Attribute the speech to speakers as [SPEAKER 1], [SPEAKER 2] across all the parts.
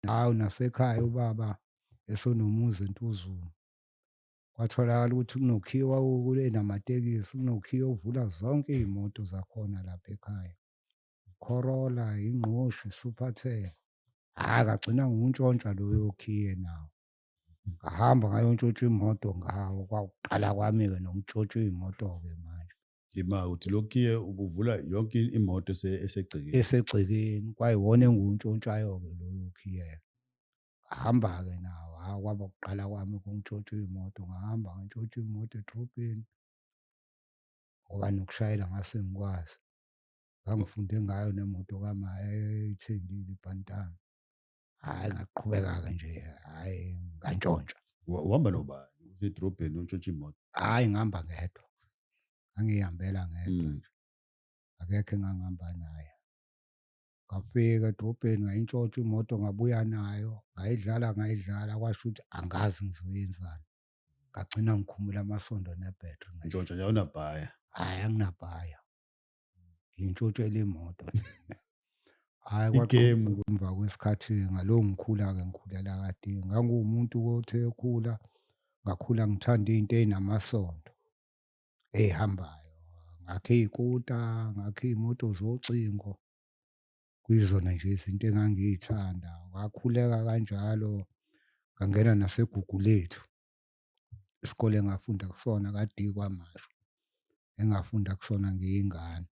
[SPEAKER 1] Hawu nasekhaya ubaba esonomuzi eNtuzuma. Kwatholakala ukuthi kunokhiye owawukule namatekisi, kunokhiye ovula zonke iy'moto zakhona lapha ekhaya. Corolla, ingqoshi, Super Ten. Hhayi kagcina ngiwuntshontsha loyo khiye nawo. Ngahamba ngayontshontsha imoto ngawo, kwakuqala kwami-ke nokuntshontsha iy'moto-ke manje. Ima uthi
[SPEAKER 2] lokiye ubuvula yonke imoto ese- esegcekeni. esegcekeni
[SPEAKER 1] kwayiwona enguntshontshayo-ke loyo khiye hamba-ke nawo ha kwaba kuqala kwami kungitshontsha imoto ngahamba ngantshontsha imoto edrobheni ngoba nokushayela ngase ngikwazi ngangifunde ngayo nemoto kama eyayithengile ibhantana hayi ngaqhubeka-ke nje hayi ngantshontsha Wa- uhamba
[SPEAKER 2] nobani uze edrobheni untshontsha imoto hhayi ngihamba ngedwa
[SPEAKER 1] ngangiyihambela ngedwa Mm. nje akekho engangihamba naye ngafika edrobheni ngayintshontsha imoto ngabuya nayo ngayidlala ngayidlala kwasho ukuthi angazi ngizoyenzani ngagcina ngikhumula amasondo nebhetri ntshontsha nje awunabhaya
[SPEAKER 2] hhayi anginabhaya
[SPEAKER 1] ngintshotshela imoto hhayi kwaqhuma
[SPEAKER 2] emva kwesikhathi
[SPEAKER 1] ngalowo ngikhula-ke ngikhulela kade nganguwumuntu othe ekhula ngakhula ngithanda izinto ezinamasondo ezihambayo ngakhe iy'kuta ngakhe iy'moto zocingo kuyizona nje izinto engangiy'thanda wakhuleka kanjalo ngangena nasegugu lethu isikole engafunda kusona kade kwamasho engafunda kusona ngiyingane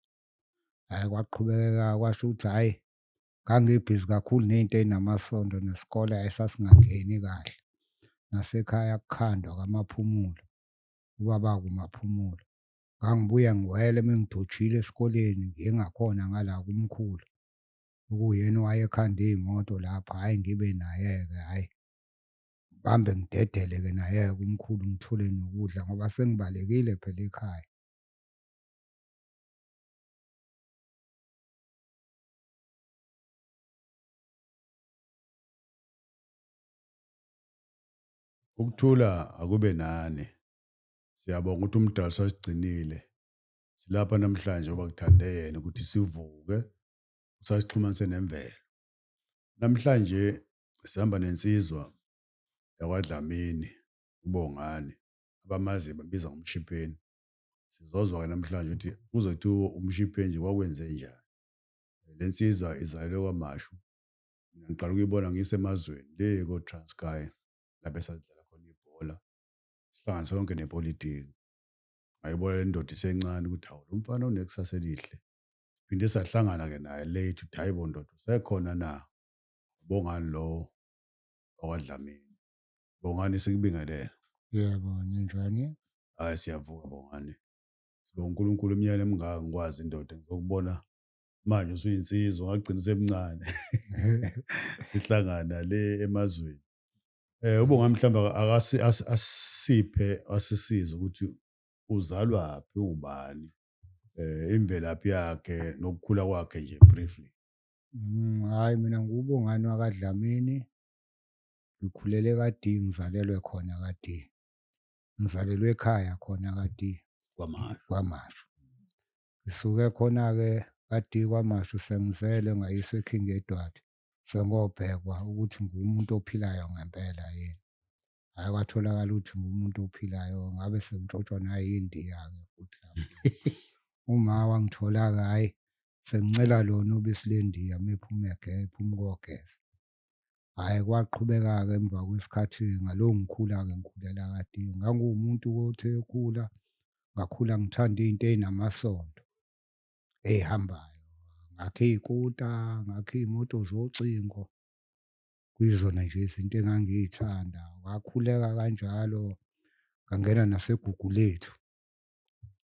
[SPEAKER 1] hayi kwaqhubeka kwasho ukuthi hayi ngangibhizi kakhulu nezinto ezinamasondo nesikole ayisasingangeni kahle nasekhaya kukhandwa kamaphumulo ubaba kumaphumulo ngangibuya ngiwele mengidojile esikoleni ngingakhona ngala kumkhulu ukuyena wayekhanda imoto lapha hayi ngibe naye ke hayi ngihambe ngidedele ke naye kumkhulu ngithule nokudla ngoba sengibalekile phela ekhaya
[SPEAKER 2] Ukuthula akube nani. Siyabonga ukuthi umdali sasigcinile. Silapha namhlanje ngoba kuthande yena ukuthi sivuke usasixhumanise nemvelo. Namhlanje sihamba nensizwa yakwaDlamini uBongani abamaziyo bambiza ngomshipheni. Sizozwa-ke namhlanje ukuthi kuze kuthiwa umshipheni nje kwakwenze njani. Le nsizwa izalelwe kwaMashu. Mina ngiqala ukuyibona ngisemazweni le ko-Transkei lapho esadlala khona ibhola sihlanganise konke nepolitiki. Ngayibona le ndoda isencane ukuthi hawu lo mfana unekusasa elihle. Siphinde sahlangana-ke naye late ukuthi hayi bo ndoda usekhona na? ubongani lo okwadlamini bongani sikubingelele yebo
[SPEAKER 1] ninjani hayi siyavuka
[SPEAKER 2] bongani sibonga uNkulunkulu umnyane emngaka ngikwazi indoda ngizokubona manje usuyinsizwa ngagcina usemncane sihlangana le emazweni eh ubonga mhlamba akasi asiphe asisiza ukuthi uzalwa phi ubani eh imvelaphi yakhe nokukhula kwakhe nje briefly Mm, hhayi
[SPEAKER 1] mina ngiwubongani wakaDlamini. Ngikhulele kaDee, ngizalelwe khona kaDee. Ngizalelwe ekhaya khona kaDee, kwamasho KwaMashu. Ngisuke khona-ke kaDee KwaMashu sengizele ngayiswa eKing Edward, sengobhekwa ukuthi ngumuntu ophilayo ngempela yini. hayi kwatholakala ukuthi umuntu ophilayo ngabe sengitshotshwa nayindiya-ke futhi uma wangithola-ke hhayi sengincela lona ubisi lendiya uma ephuma ephuma ukogeza hhayi kwaqhubeka-ke emva kwesikhathi ngalowo ngikhula-ke ngikhulela kade nganguwumuntu othe ekhula ngakhula ngithanda izinto ezinamasondo ezihambayo ngakhe iy'kuta ngakhe iy'moto zocingo kuyizona nje izinto engangiyithanda wakhuleka kanjalo ngangena nasegugu lethu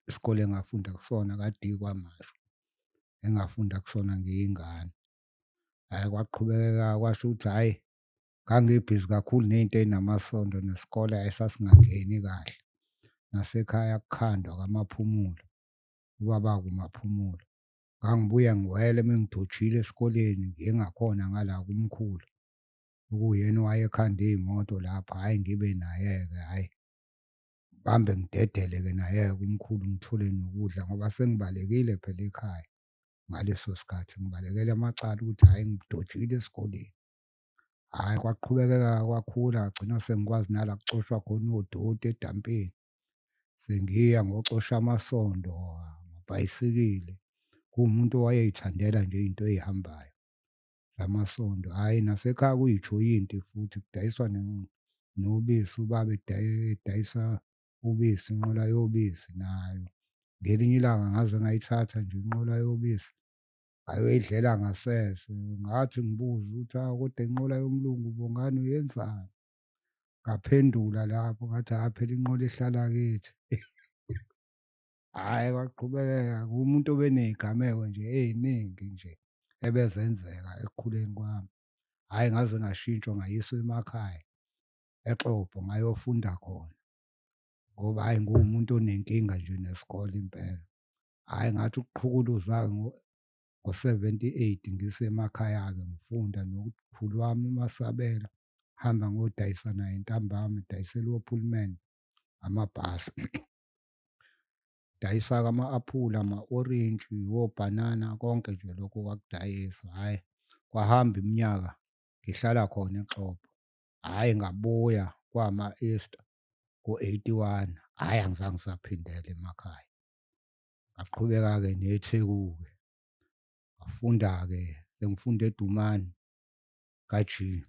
[SPEAKER 1] isikole engafunda kusona kade kwamasho engafunda kusona ngiyingane hayi kwaqhubeka kwasho ukuthi hayi ngangibhizi kakhulu nezinto ezinamasondo nesikole ayisasingangeni kahle nasekhaya kukhandwa kamaphumulo ubaba kumaphumulo ngangibuya ngiwele mengidojile esikoleni ngiye ngakhona ngala kumkhulu ukuyena owayekhanda iy'moto lapho hhayi ngibe naye-ke hhayi bambe ngidedele-ke naye-ke kumkhulu ngithule nokudla ngoba sengibalekile phela ekhaya ngaleso sikhathi ngibalekele amacala ukuthi hhayi ngidojile esikoleni hhayi kwaqhubekeka kwakhula ngagcina sengikwazi nala kucoshwa khona odoti edampeni sengiya ngocosha amasondo amabhayisikili kuwumuntu owayeyithandela nje into eyihambayo zamasondo hhayi nasekhaya kuyijoyinti futhi kudayiswa nobisi ubaba edayisa ubisi inqola yobisi nayo ngelinye ilanga ngaze ngayithatha nje inqola yobisi ayoyidlela ngasese ngathi ngibuza ukuthi awu kodwa inqola yomlungu bongani uyenzani ngaphendula lapho ngathi hhayi phela inqola ihlala kithi hhayi kwaqhubekeka kumuntu obeney'gameko nje ey'ningi nje ebezenzeka ekukhuleni kwami hhayi ngaze ngashintshwa ngayiswa emakhaya exobho ngayofunda khona ngoba hhayi nguwumuntu onenkinga nje nesikole impela hhayi ngathi ukuqhukuluza-ke ngo-seventy eight ngisemakhaya-ke ngifunda nokukhulu wami umasabela hamba ngodayisa naye ntambama dayisela ophulman amabhasi dayisa kama-aphula ama-orintshi wobhanana konke nje lokho kwakudayisa hhayi kwahamba iminyaka ngihlala khona exhobo hhayi ngabuya kwama-easter ngo-eighty one hhayi angizange ngisaphindela emakhaya ngaqhubeka-ke netheku-ke ngafunda-ke sengifunde edumane kajini.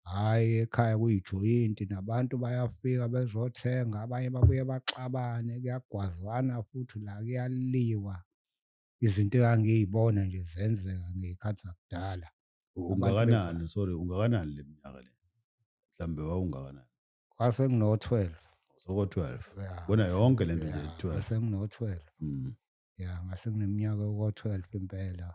[SPEAKER 1] Hhayi ekhaya kuyijoyinti nabantu bayafika bezothenga abanye babuye baxabane kuyagwazwana futhi la kuyaliwa. Izinto engangiy'bona nje zenzeka ngey'khathi zakudala. Ungakanani sorry
[SPEAKER 2] ungakanani le minyaka le? Mhlawumbe wawungakanani? Kwase
[SPEAKER 1] ngino-twelve. Soko-twelve.
[SPEAKER 2] Yeah, Bona yonke
[SPEAKER 1] le nto nje
[SPEAKER 2] yeah, twelve. Kwase
[SPEAKER 1] ngino-twelve. Mm. Ya ngase ngineminyaka oko-twelve impela.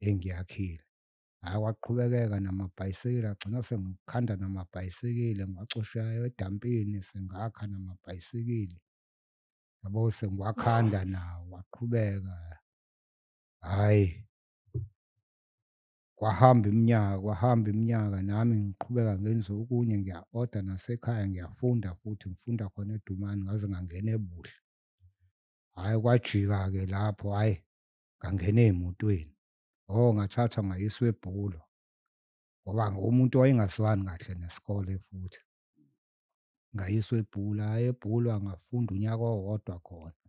[SPEAKER 1] engiyakhile. Hhayi kwaqhubekeka namabhayisekile agcina sengikhanda namabhayisekile ngiwacosha edampini sengakha namabhayisekile. Yabo sengiwakhanda nawo waqhubeka. Hhayi kwahamba iminyaka kwahamba iminyaka nami ngiqhubeka ngenze okunye ngiya-oda nasekhaya ngiyafunda futhi ngifunda khona edumane ngaze ngangena ebuhle. Hhayi kwajika-ke lapho hhayi ngangena emotweni oh ngathathwa ngayiswa ebhulo ngoba umuntu wayengazwani kahle nesikole futhi ngayiswa ebhula ebhulwa ngafunda unyaka owodwa khona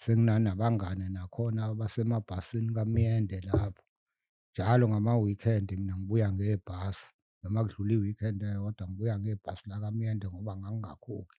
[SPEAKER 1] senginanabangane nakhona abasemabhasini kamyende lapho njalo ngama-weekend mina ngibuya ngebhasi noma kudlula i-weekend eyodwa ngibuya ngebhasi lakamyende ngoba ngangingakhokhi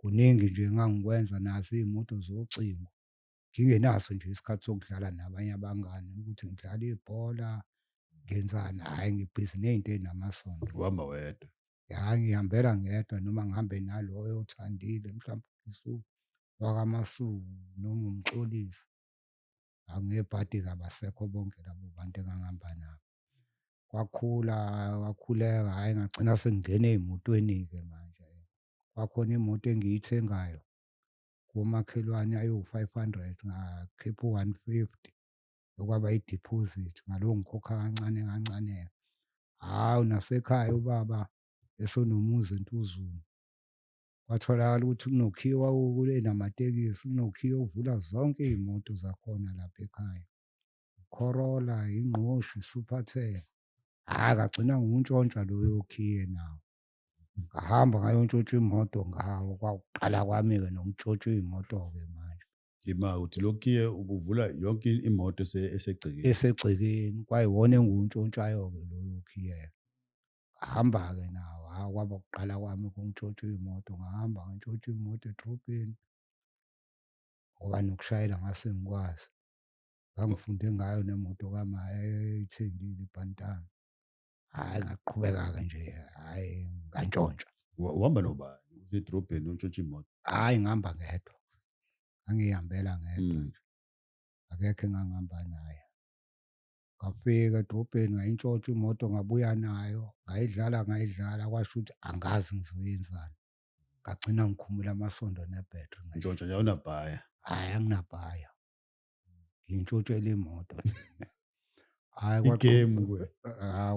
[SPEAKER 1] kuningi nje engangikwenza nazo iy'moto zocingo. Ngingenaso nje isikhathi sokudlala nabanye abangani ukuthi ngidlala ibhola, ngenzani, hhayi ngibhizi ney'nto ey'namasondo. Uhamba wedwa.
[SPEAKER 2] Ya ngihambela
[SPEAKER 1] ngedwa noma ngihambe naloyo othandile mhlawumbe isu wakaMasuku noma uMxolisi. Angebhadi-ke abasekho bonke labo bantu engangihamba nabo. Kwakhula, kwakhuleka, hhayi ngagcina sengingena ey'motweni-ke manje. kwakhona imoto engiyithengayo komakhelwane ayiwu-five hundred ngakhipha u-one fifty okwaba i-deposit ngalowo ngikhokha kancane kancane hhawu nasekhaya ubaba esonomuzi entuzulu kwatholakala ukuthi kunokhiwa kule namatekisi kunokhiwa uvula zonke iy'moto zakhona lapha ekhaya Corolla, ingqoshi, Supertel. Hhayi akagcina ngokuntshontsha loyo okhiye nawo. ngahamba ngayontshotsha imoto ngawo kwakuqala kwami-ke nokuntshotshwa iy'moto-ke manje ima uthi
[SPEAKER 2] lokhiye ubuvula yonke imoto ese- esegcekeni
[SPEAKER 1] esegcekeni kwayiwona enguwuntshontshayo-ke loyo khiye ngahamba-ke nawo ha kwaba kuqala kwami kungitshotshwa iy'moto ngahamba ngantshotshwa imoto edrobheni ngoba nokushayela ngase ngikwazi ngangifunde ngayo nemoto kama eyayithengile ibhantana hayi ngaqhubeka-ke nje hayi ngantshontsha Wa- uhamba
[SPEAKER 2] nobani uze edrobheni untshontsha imoto hhayi ngihamba ngedwa
[SPEAKER 1] angiyihambela ngedwa Mm. nje akekho engangihamba naye ngafika edrobheni ngayintshontsha imoto ngabuya nayo ngayidlala ngayidlala kwasho ukuthi angazi ngizoyenzani ngagcina ngikhumula amasondo nebhetri ngisho ntshontsha nje awunabhaya
[SPEAKER 2] hhayi anginabhaya
[SPEAKER 1] ngintshotshela imoto hayi igame kuwe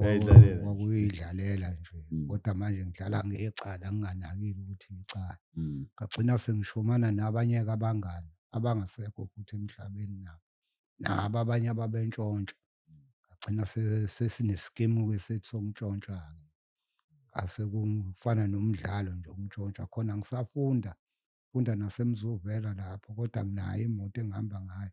[SPEAKER 2] yayidlalela kwakuyidlalela nje
[SPEAKER 1] mm. kodwa manje
[SPEAKER 2] ngidlala
[SPEAKER 1] ngecala nginganakile ukuthi icala mm. ngagcina
[SPEAKER 2] sengishomana
[SPEAKER 1] nabanye kabangani abangasekho futhi emhlabeni nabo nabo abanye ababentshontsha ngagcina sesineskimu-ke sethi sokuntshontsha-ke asekufana nomdlalo nje ukuntshontsha khona ngisafunda funda nasemzuvela lapho kodwa nginayo imoto engihamba ngayo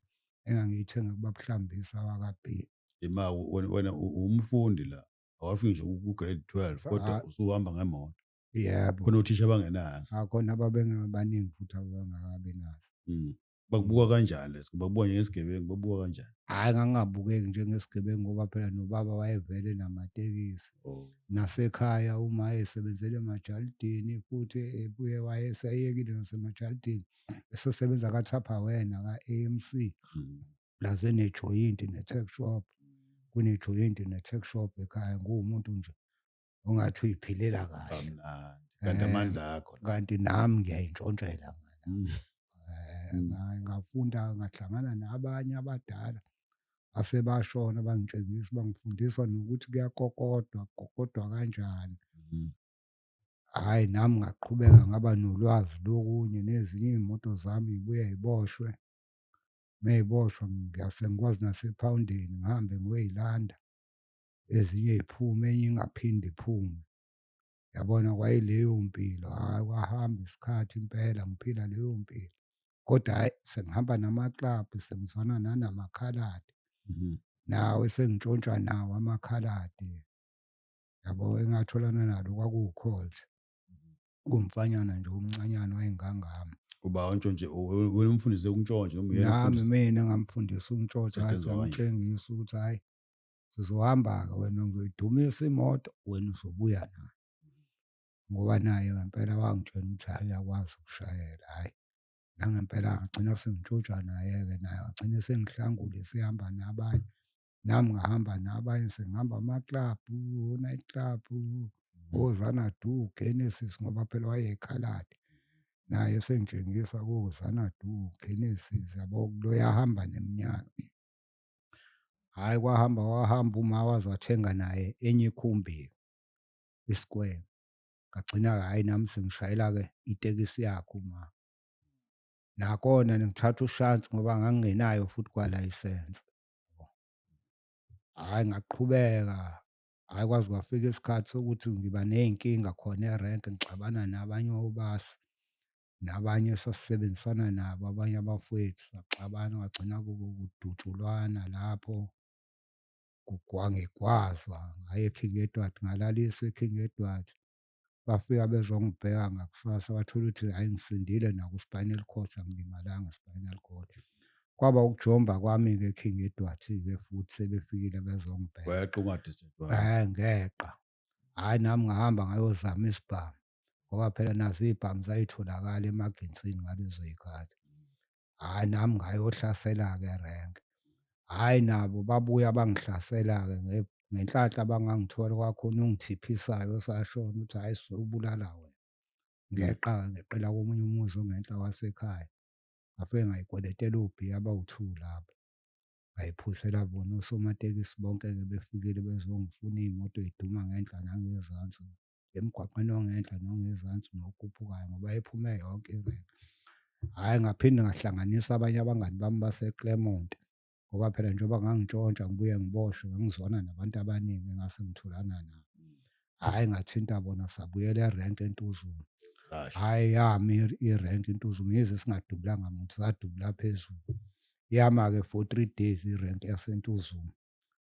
[SPEAKER 1] engangiyithenge kubabuhlambisa wakabhili ima
[SPEAKER 2] wena umfundi la awafiki nje ku-grade 12 kodwa ah. usuhamba ngemoto yebo khona
[SPEAKER 1] othisha abangenazo
[SPEAKER 2] akhona ah, ababengabaningi
[SPEAKER 1] futhi abangakabi nazo mm. bakubuka
[SPEAKER 2] kanjani leso bakubuka njengesigebengu babuka kanjani hhayi ngangingabukeki
[SPEAKER 1] njengesigebengu ngoba phela nobaba wayevele namatekisi oh.
[SPEAKER 2] nasekhaya
[SPEAKER 1] uma esebenzele emajalidini futhi ebuye wayeseyekile nasemajalidini esesebenza kathapha wena ka-a m c hmm.
[SPEAKER 2] laze
[SPEAKER 1] nejoyinti ne-tech shop kunejoyinti ne-tech shop ekhaya nguwumuntu nje ungathi uyiphilela kahle kamnandi kanti Eh,
[SPEAKER 2] amandla akho la. kanti nami
[SPEAKER 1] ngiyayintshontshela
[SPEAKER 2] ngala Mm. Eh, Mm. nga- ngafunda
[SPEAKER 1] ngahlangana nabanye abadala asebashona bangitshengisa bangifundisa nokuthi kuyakokodwa kukokodwa kanjani Mm.
[SPEAKER 2] hhayi
[SPEAKER 1] nami ngaqhubeka ngaba nolwazi lokunye nezinye iy'moto zami yibuye yiboshwe meyiboshwa ngiyase ngikwazi nasephawundeni ngihambe ngiyoyilanda ezinye ziphume enye ingaphinde iphume yabona kwayileyo mpilo hhayi kwahamba isikhathi impela ngiphila leyo mpilo kodwa hhayi sengihamba namaklabhu sengizwana nanamakhaladi mhm.
[SPEAKER 2] nawe
[SPEAKER 1] sengitshontshwa nawo amakhaladi yabo engatholana nalo kwakuwukholt mhm. kumfanyana nje omncanyana wayengangami uba untshontshe
[SPEAKER 2] wena umfundise ukuntshontsha noma uyena nami mina ngamfundisa
[SPEAKER 1] ukuntshontsha ngamtshengisa ukuthi
[SPEAKER 2] hhayi
[SPEAKER 1] sizohamba-ke wena ngizoyidumisa imoto wena uzobuya nayo ngoba naye ngempela wangitshela ukuthi hhayi uyakwazi ukushayela hhayi nangempela ngagcina sengitshotsha naye-ke naye wagcina sengihlangule sihamba nabanye nami ngahamba nabanye sengihamba amaklabhu o-night club ozanadu genesis ngoba phela wayekhalade naye esengitshengisa kozanadu genesis yabo loyahamba neminyaka hhayi kwahamba wahamba uma waze wathenga naye enye ikhumbi isikwele ngagcina-ke hhayi nami sengishayela-ke itekisi yakhe uma nakona ngithatha ushansi ngoba ngangingenayo futhi kwalayisense hhayi ngaqhubeka hhayi kwaze kwafika isikhathi sokuthi ngiba ney'nkinga khona erenke ngixabana nabanye obasi nabanye esasisebenzisana nabo abanye abafowethu saxabana kwagcina kubo kudutshulwana lapho kugwangegwazwa ngaye eKing Edward ngalaliswa eKing Edward bafika bezongibheka ngakusasa bathola ukuthi hhayi ngisindile naku-spinal cord angilimalanga i-spinal cord kwaba ukujomba kwami-ke eKing Edward-ke futhi sebefikile bezongibheka
[SPEAKER 2] ngeqa
[SPEAKER 1] hhayi nami ngahamba ngayozama isibhamu ngoba phela nazo iy'bhamu zayitholakala emaginsini ngalezo y'khathi hhayi nami ngayohlasela-ke erenke hhayi nabo babuya bangihlasela-ke nge- ngenhlanhla bangangithola kwakhona ungithiphisayo osashona ukuthi hhayi sobulala wena ngeqa-ke ngeqela komunye umuzi ongenhla wasekhaya ngafike ngayikweletela ubhiya abawu-two lapho Ngayiphusela bona osomatekisi bonke-ke befikile bezongifuna iy'moto y'duma ngenhla nangezansi emgwaqeni ongenhla nongezansi nokhuphukayo ngoba ephume yonke irenke. Hhayi ngaphinde ngahlanganisa abanye abangani bami baseClermont ngoba phela njengoba ngangintshontsha ngibuye ngiboshwe ngangizwana nabantu abaningi engase ngithulana nabo. hayi ngathinta bona sabuyela erank entuzuma hayi
[SPEAKER 2] yami
[SPEAKER 1] irank intuzuma yize singadubulanga muntu sadubula phezulu yama-ke for three days irank yasentuzuma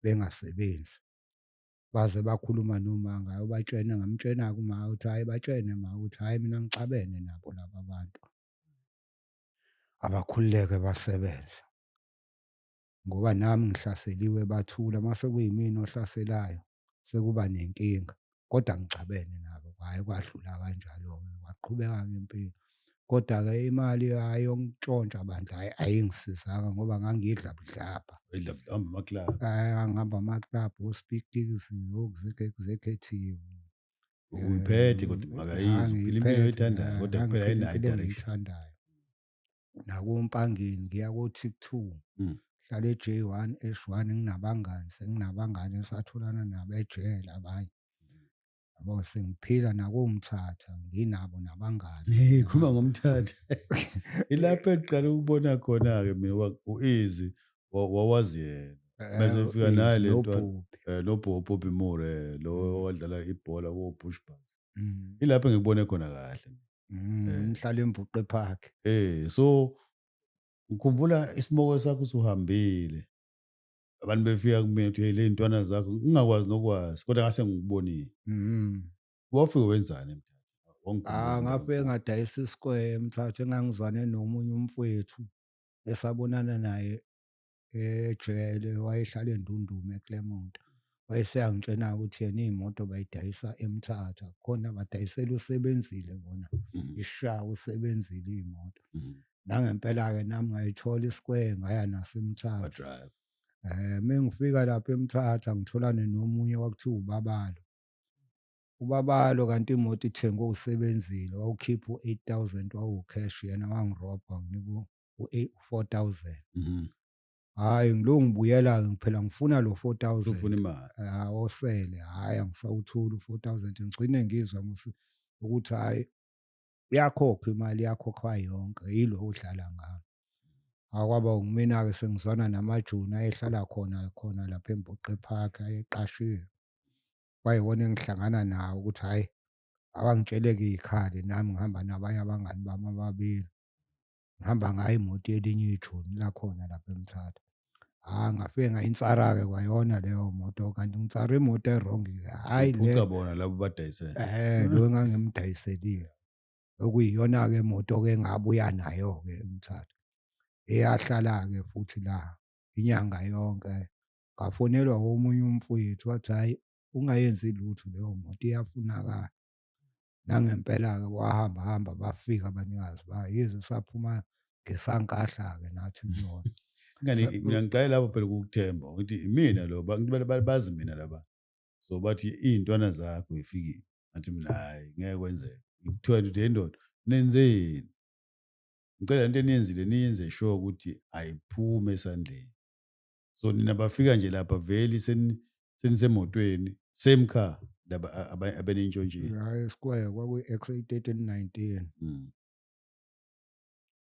[SPEAKER 1] bengasebenzi baze bakhuluma noma ngayo batshene ngamtshena-ke uma ukuthi hhayi batshene ma ukuthi hhayi mina ngixabene nabo laba bantu abakhululeke basebenze ngoba nami ngihlaseliwe bathula mase kuyimina ohlaselayo sekuba nenkinga kodwa ngixabene nabo hayi kwadlula kanjalo-ke waqhubeka ngempilo kodwa-ke imali ayongitshontsha bandla hayi ayingisizanga ngoba ngangidla budlabha
[SPEAKER 2] ngihamba
[SPEAKER 1] amaklabhu ospikis oexecutive
[SPEAKER 2] uyiphethe kodwa makayizo phila impilo oyithandayo kodwa kuphela ayinayo idirection
[SPEAKER 1] nakompangeni ngiya ko-tik two mm. hlala e-j one esh one nginabangani senginabangani esatholana nabo ejele abanye yabo sengiphila nakomthatha nginabo nabangani hey khuluma ngomthatha
[SPEAKER 2] ilapho eqala ukubona khona ke mina uizi wawazi yena eh, bese fika naye lento eh, lo Bobby Moore eh, lo mm. wadlala ibhola wo Bushbucks mm. ilapho ngibone khona kahle Mm, Eh. Ngihlala
[SPEAKER 1] eMbuqe Park. Eh so
[SPEAKER 2] ngikhumbula isimoke sakho usuhambile. Abantu befika kumina ukuthi hey le ntwana zakho ngingakwazi nokwazi kodwa ngase ngikubonile. Mm. Wafike wenzani mthatha? Ah, Wangikhumbuzela ngafike ukuthi- ngadayisa
[SPEAKER 1] isikwemthatha engangizwane nomunye umfwethu esabonana naye ejele wayehlala endundume eclermont wayeseyangitshena ukuthi yena iy'moto bayidayisa emthatha khona badayisela usebenzile bona mm. ishawa usebenzile iy'moto mm. nangempela-ke nami ngayithola isikweye ngaya nasemthatha um eh, mengifika lapho emthatha ngitholane nomunye kwakuthiwa ubabalo ubabalo kanti imoto ithengwe usebenzile wawukhipha u-eight thousand wawucash yena wangirobha nginika u-4000 Mhm. hhayi ngilo ngibuyela-ke ngiphela ngifuna lo 4000 Ufuna imali. Ah,
[SPEAKER 2] osele
[SPEAKER 1] hhayi angisawutholi u-4000 ngigcine ngizwa ngosi- ukuthi hhayi iyakhokha imali yakhokhwa yonke yilo odlala ngami akwaba ngumina-ke sengizwana namajoni ayehlala khona khona lapha emboqe park ayeqashiwe kwayiwona engihlangana nawo ukuthi hhayi abangitsheleke ikhali nami ngihamba nabanye abangani bami ababili ngihamba ngayo imoto yelinye ijoni lakhona lapha emthatha hhayi ngafike ngayinsara-ke kwayona leyo moto kanti ngitsara imoto erongi-ke hhayi phuca bona labo
[SPEAKER 2] badayisele um lo
[SPEAKER 1] engangimdayiselile okuyiyona-ke imoto-ke engabuya nayo-ke emthatha eyahlala-ke futhi la inyanga yonke ngafonelwa omunye umfowethu wathi hhayi ungayenzi lutho leyo moto iyafunakala nangempela-ke wahamba hamba bafika abanikazi ba yize saphuma ngesankahla-ke nathi kuyona ingane mina
[SPEAKER 2] ngiqale lapho phela ukukuthemba ukuthi imina lo bazi mina laba so bathi iy'ntwana zakho ifikile athi mina hhayi ngeke kwenzeka kuthiwa nje ukuthi ndoda nenzeni ngicela into eniyenzile niyenze sure ukuthi ayiphume esandleni so nina bafika nje lapha veli senisemotweni same car laba abenentshontshile hayi square kwakuyi-x88 19
[SPEAKER 1] mm.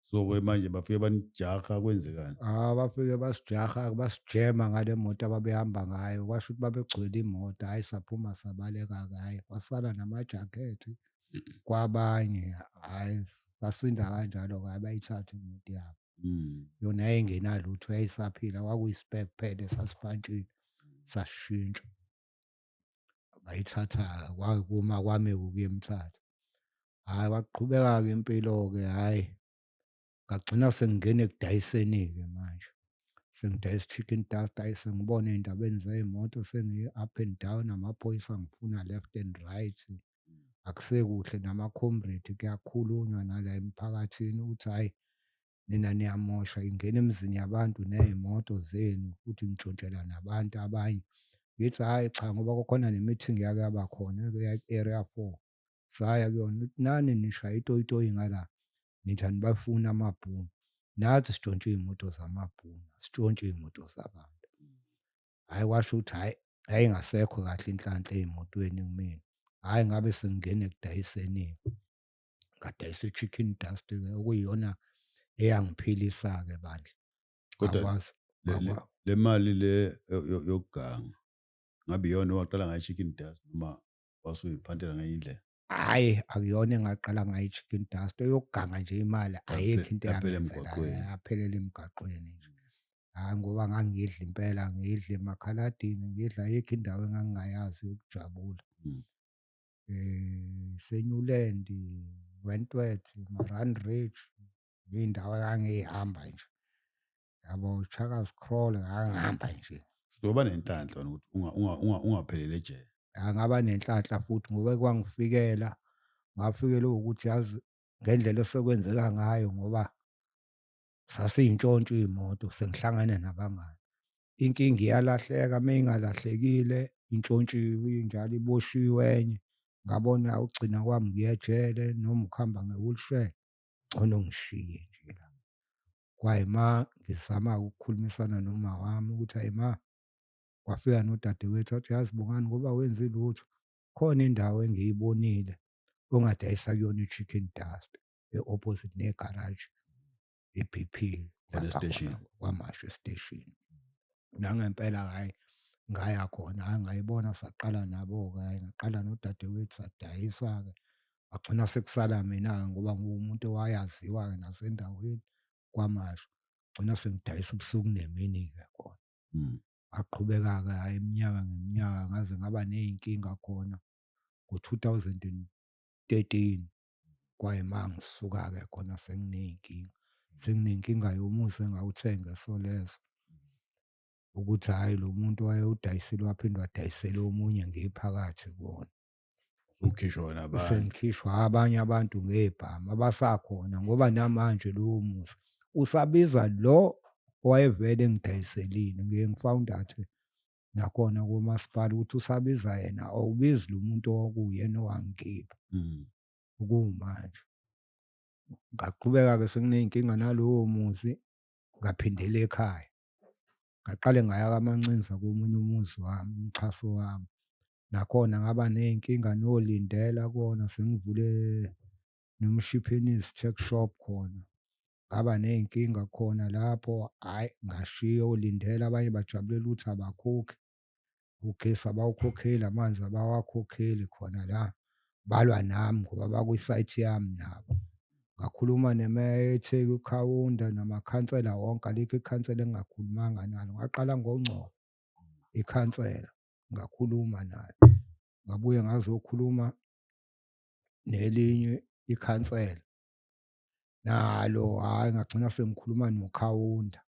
[SPEAKER 2] so ke manje bafike banijaha kwenzekani ah bafike
[SPEAKER 1] basijaha basijema ngale moto ababehamba ngayo kwasho ukuthi babegcwele imoto hhayi saphuma sabaleka kaye kwasala namajakhethi kwabanye hhayi sasinda kanjalo-ke abayithathe imoto yabo Mm. yona yayingenalutho yayisaphila kwakuyi-spare kuphela esasibhantshile sasishintsha bayithatha kwakuma kwami ukuyemthatha hhayi waqhubeka-ke impilo-ke hhayi ngagcina sengingena ekudayiseni-ke manje sengidayisa i-chicken dust ayi sengibona ey'ndabeni zey'moto sengi-up and down amaphoyisa ngifuna left and right akusekuhle namakhomredi kuyakhulunywa nala emphakathini ukuthi hhayi nina niyamosha ingena emizini yabantu ney'moto zenu futhi nitshontshela nabantu abanye ngithi hhayi cha ngoba kukhona nemithingi yake yaba khona area four saya kuyona ukuthi nani nishaya itoyitoyi ngala nithi anibafuni amabhunu nathi sitshontshe iy'moto zamabhunu asitshontshe iy'moto zabantu hhayi washo ukuthi hhayi yayingasekho kahle inhlanhla ey'motweni kumina hhayi ngabe sengingena ekudayisenini ngadayisa i-chicken dust okuyiyona eyangiphilisa-ke bandla kodwa
[SPEAKER 2] le mali le yokuganga ngabe iyona owaqala ngayo i-chicken dust noma wasuyiphantela ngenye indlela hayi akuyona
[SPEAKER 1] engaqala ngayo i-chicken dust eyokuganga nje imali ayikho into yaphelela emgaqweni nje hayi ngoba ngangidla impela ngidla emakhaladini ngidla ayikho indawo engangingayazi yokujabula
[SPEAKER 2] um
[SPEAKER 1] senyuland wentworth maran ridge iy'ndawo engangiyihamba nje yabo ushaka scroll ngangihamba nje uzoba nenhlanhla
[SPEAKER 2] ukuthi unga- unga- unga- ungaphelele ejele angaba nenhlanhla
[SPEAKER 1] futhi ngoba kwangifikela ngafikelwa ukuthi yazi ngendlela esekwenzeka ngayo ngoba sasiyintshontsho iy'moto sengihlangane nabangani inkinga iyalahleka uma ingalahlekile intshontshiwe injalo iboshiwe enye ngabona ugcina kwami ngiyejele noma ukuhamba nge-wheelchair ngcono ngishiye nje la kwaye ma ngizama ukukhulumisana noma wami ukuthi hayi ma wafika nodadewethu wathi yazi bongani ngoba wenzi lutho khona indawo engiyibonile ongadayisa kuyona i-chicken dust e-opposite negaraji e-bp kwamasho esiteshini nangempela hhayi ngaya khona hhayi ngayibona saqala nabo-ke hhayi ngaqala nodadewethu sadayisa-ke Kwagcina sekusala mina-ke ngoba nguwumuntu owayaziwa-ke nasendaweni kwamasho. Gcina sengidayisa ubusuku nemini-ke khona. Mm.
[SPEAKER 2] Aqhubeka-ke
[SPEAKER 1] hhayi iminyaka ngeminyaka ngaze ngaba ney'nkinga khona ngo-two thousand and thirteen kwayima ngisuka-ke khona senginey'nkinga. Senginenkinga yomuzi engawuthenga eSolezwe ukuthi hhayi lo muntu wayewudayisile waphinde wadayisela omunye ngiphakathi kuwona. usukhishwa
[SPEAKER 2] wena abantu sengikhishwa abanye
[SPEAKER 1] abantu ngebhamu abasakhona ngoba namanje lowo musa usabiza lo owayevele engidayiselile ngiye ngifawunda athi nakhona komasipala ukuthi usabiza yena awubizi lo muntu owakuyena owangikhipha mm.
[SPEAKER 2] kuwumanje
[SPEAKER 1] ngaqhubeka-ke senginey'nkinga nalowo muzi ngaphindela ekhaya ngaqale ngaya kamancinza komunye umuzi wami umxhaso wami nakhona ngaba ney'nkinga nolindela kona sengivule nomshiphenisi check shop khona ngaba ney'nkinga khona lapho hhayi ngashiya olindela abanye bajabulela ukuthi abakhokhi ugesi abawukhokheli amanzi abawakhokheli khona la balwa nami ngoba bakwisayithi yami nabo ngakhuluma nemeya etheki ukhawunda namakhansela wonke alikho ikhansela engingakhulumanga nalo ngaqala ngongcobo ikhansela ngakhuluma nalo ngabuye ngazokhuluma nelinye ikhansela nalo hhayi ngagcina sengikhuluma nokhawunda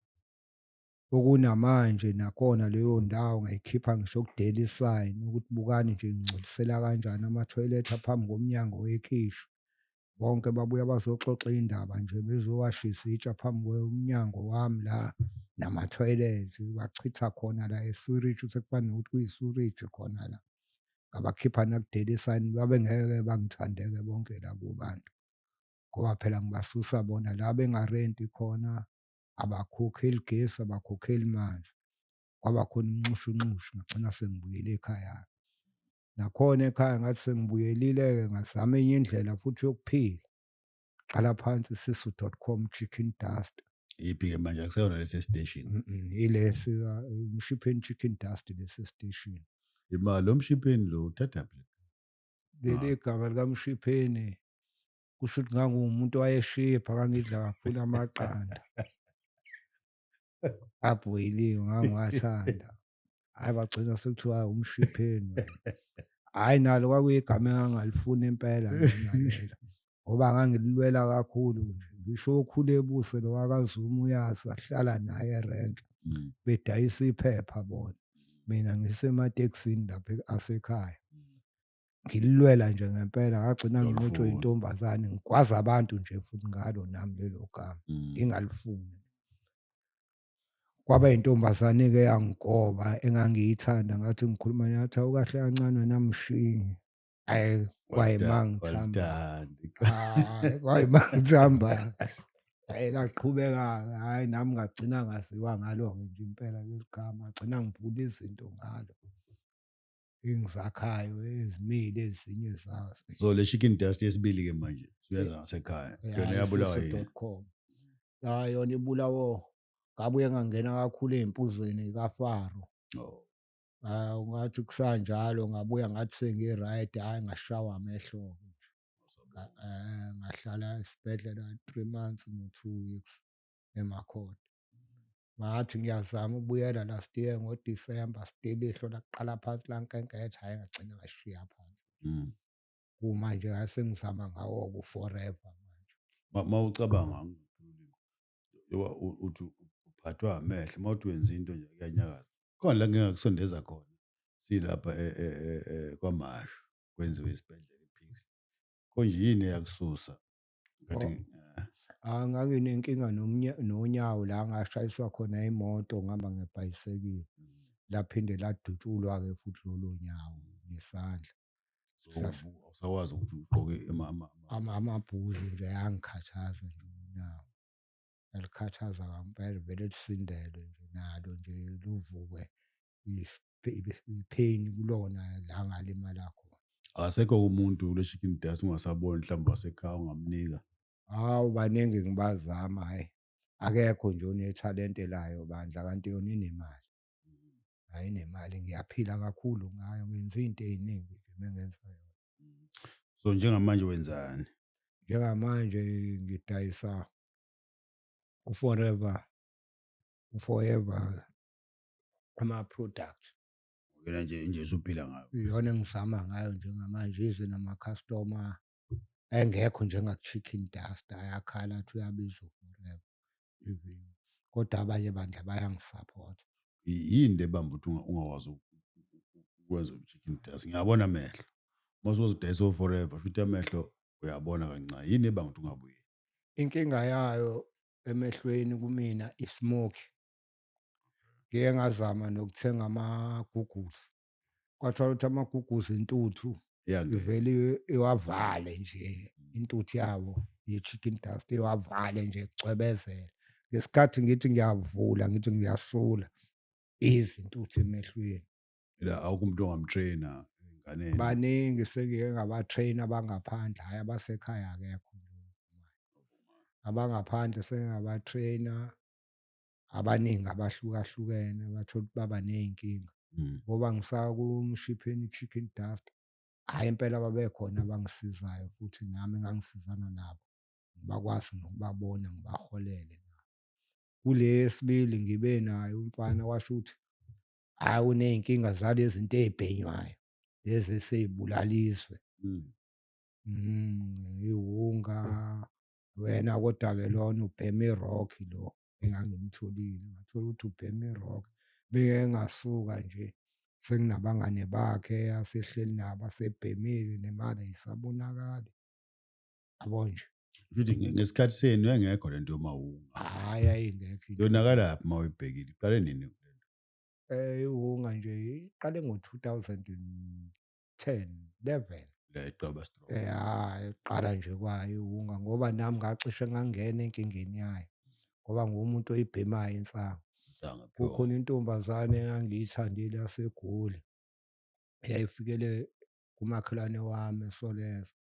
[SPEAKER 1] okunamanje nakhona leyo ndawo ngayikhipha ngisho ku-daily sign ukuthi bukani nje ngingcolisela kanjani amathoyilethi aphambi komnyango wekhishi bonke babuya bazoxoxa indaba nje bezowashisa itsha phambi komnyango wami la namathoyilethi bachitha khona la esuriji sekufana nokuthi kuyisuriji khona la ngabakhipha naku-daily sign babengeke bangithandeke bonke labo bantu ngoba phela ngibasusa bona la bengarenti khona abakhokheli gesi abakhokheli manzi kwaba khona inxushunxushu ngagcina sengibuyele ekhaya nakhona ekhaya ngathi sengibuyelile-ke ngazama enye indlela futhi yokuphila qala phansi sisu dot com chicken dust iphi-ke manje
[SPEAKER 2] akuseyona lesi station ilesi
[SPEAKER 1] umshipheni chicken dust lesi station imali lo
[SPEAKER 2] mshipheni lo uthathaphi leli ah.
[SPEAKER 1] gama likamshipheni kusho ukuthi ngangumuntu owayeshipha ngangidla kakhulu amaqanda abhoyiliwe ngangiwathanda hayi bagcina sekuthiwa umshipheni hayi nalo kwakuyigama engangalifuni impela nalo ngoba ngangililwela kakhulu nje ngisho okhule ebuse lo wakazuma uyazi ahlala naye erenk mm. bedayisa
[SPEAKER 2] iphepha
[SPEAKER 1] bona mina ngisematekisini lapha asekhaya ngililwela nje ngempela ngagcina nginqotshwe intombazane
[SPEAKER 2] ngigwaza
[SPEAKER 1] abantu nje futhi ngalo nami lelo gama mm. ngingalifuni kwaba intombazane ke yangigoba engangiyithanda ngathi ngikhuluma yathi awukahle kancane namshingi ayi kwayimangithamba kwayimangithamba ayi laqhubeka hayi nami ngagcina ngaziwa ngalo nje impela leli gama agcina ngibhula izinto ngalo engizakhayo ezimile ezinye zazo so le chicken dust
[SPEAKER 2] yesibili ke manje suyeza ngasekhaya yona yabulawa yini
[SPEAKER 1] ya yona ibulawo ngabuye ngangena kakhulu ezimpuzweni kafaro
[SPEAKER 2] oh ah ngathi
[SPEAKER 1] kusanjalo ngabuya ngathi sengi right hayi ngashawa amehlo eh ngahlala esibhedlela 3 months no 2 weeks emakhona ngathi ngiyazama ubuyela last year ngoDisemba still ihlo lakuqala phansi lankenketha hhayi ngagcina ngashiya phansi mm.
[SPEAKER 2] kumanje
[SPEAKER 1] ngasengizama ngawo ku-forever manje ma ucabanga
[SPEAKER 2] uthi uphathwa amehlo uma uthi wenza into nje kuyanyakaza khona la ngingakusondeza khona silapha e, e, e, kwamashu kwenziwe isibhedlela iphikisi konje yini eyakususa
[SPEAKER 1] Ngathi, eh, Ah, nganginenkinga nomnya- nonyawo la ngashayiswa khona imoto ngihamba ngebhayisekile laphinde ladutshulwa-ke futhi lolo nyawo ngesandla so uvu-
[SPEAKER 2] awusakwazi ukuthi ugqoke ama- ama- ama- Ama-
[SPEAKER 1] amabhuzu nje ayangikhathaza nje unyawo yalikhathaza kampela vele lisindelwe nje nalo nje luvuke ipain kulona la ngalimala khona akasekho umuntu
[SPEAKER 2] kule chicken dust ungasaboni mhlawumbe wasekhaya ungamnika hawu
[SPEAKER 1] baningi ngibazama hhayi akekho nje onethalente layo bandla kanti yona inemali hhayi inemali ngiyaphila kakhulu ngayo ngenza iy'nto ey'ningi nje uma ngenza yona so
[SPEAKER 2] njengamanje wenzani njengamanje
[SPEAKER 1] ngidayisa uforever uforever ama product
[SPEAKER 2] yona nje nje usuphila ngayo iyona engizama
[SPEAKER 1] ngayo njengamanje ize nama customer engekho njenga chicken dust ayakhala athi uyabiza forever even kodwa abanye bandla bayangisupport yini le
[SPEAKER 2] bamba ukuthi ungawazi ukwenza uchicken dust ngiyabona amehlo uma usuzidayisa forever futhi amehlo uyabona kancane yini ebanga ukuthi ungabuyi inkinga
[SPEAKER 1] yayo emehlweni kumina ismoke ngike ngazama nokuthenga amagugusi kwathiwa ukuthi amagugusi intuthu ivele iwavale nje intuthu yabo ye-chicken dust iwavale nje kucwebezela ngesikhathi ngithi ngiyavula ngithi ngiyasula izintuthu emehlweni la awukho
[SPEAKER 2] umuntu ongamtraina enganeni baningi sengike
[SPEAKER 1] ngabatraina abangaphandle hhayi abasekhaya akekho abangaphandle sengabatraina abaningi abahlukahlukene abathola ukuthi baba ney'nkinga Mm. ngoba ngisakumshipheni chicken dust hhayi impela babekhona abangisizayo futhi nami ngangisizana nabo ngibakwazi nokubabona ngibaholele nabo kule yesibili ngibe naye umfana washo ukuthi hhayi uney'nkinga zalezi zinto ey'bhenywayo lezi esey'bulala izwe Mm. Mm, iwunga wena kodwa ke lona ubheme irock lo engangimtholile ngathola ukuthi ubheme irock beke engasuka nje senginabangane bakhe asehleli nabo asebhemile nemali ayisabonakali yabo nje futhi ngesikhathi
[SPEAKER 2] senu engekho lento yomawunga hayi ayingekho
[SPEAKER 1] yonakala phi mawuyibhekile
[SPEAKER 2] iqale nini eh
[SPEAKER 1] iwunga nje iqale ngo 2000 10 11 leqaba
[SPEAKER 2] strong ya eqala
[SPEAKER 1] nje kwayo unga ngoba nami ngacishe ngangena enkingeni yayo ngoba ngumuntu oyibhemayo insangu kukhona
[SPEAKER 2] intombazane
[SPEAKER 1] engangiyithandile yasegoli yayifikele kumakhelwane wami esolezo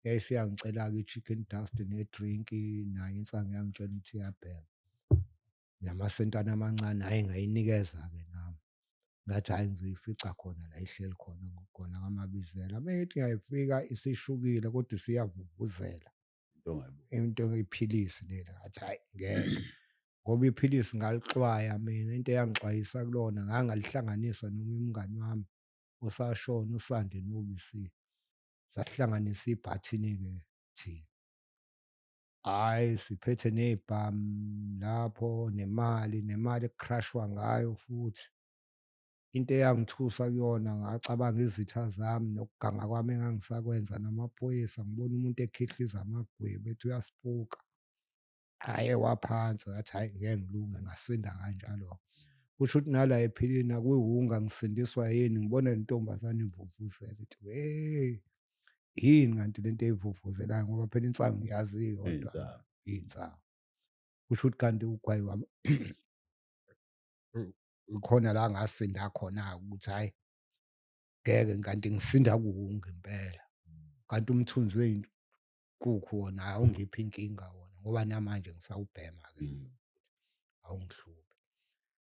[SPEAKER 1] yayisiyangicela-ke i-chicken dust ne-drink nayo insangu yangitshela ukuthi iyabhema namasentana amancane hhayi ngayinikeza-ke nami. Ngathi hhayi ngizoyifica khona la ihleli khona khona kaMabizela. Uma ithi ngiyayifika isishukile kodwa isiyavuvuzela.
[SPEAKER 2] Into iphilisi
[SPEAKER 1] leli ngathi hhayi ngeke. Ngoba iphilisi ngalixwaya mina into eyangixwayisa kulona ngangalihlanganisa noma umngani wami usashona usande nobisi. Sasihlanganisa ibhathini-ke thina. Hhayi siphethe ney'bhamu lapho nemali, nemali ekukrashwa ngayo futhi. Into eyangithusa kuyona ngacabanga izitha zami nokuganga kwami engangisakwenza namaphoyisa ngibona umuntu ekhihliza amagwebu ethi uyasipuka. Aye waphansi ngathi hhayi ngeke ngilunge ngasinda kanjalo-ke. Kusho ukuthi nala ephilini akuyiwunga ngisindiswa yini ngibona le ntombazane ivuvuzela ithi hheyi yini kanti lento eyivuvuzelayo ngoba phela insangu yazi iyodwa insangu kusho ukuthi kanti ugwayi wami khona la ngasinda khona ukuthi hayi ngeke kanti ngisinda kuwunge impela kanti umthunzi weyinkukhu wona awungiphi inkinga wona ngoba namanje ngisawubhema ke mm. awungihluphi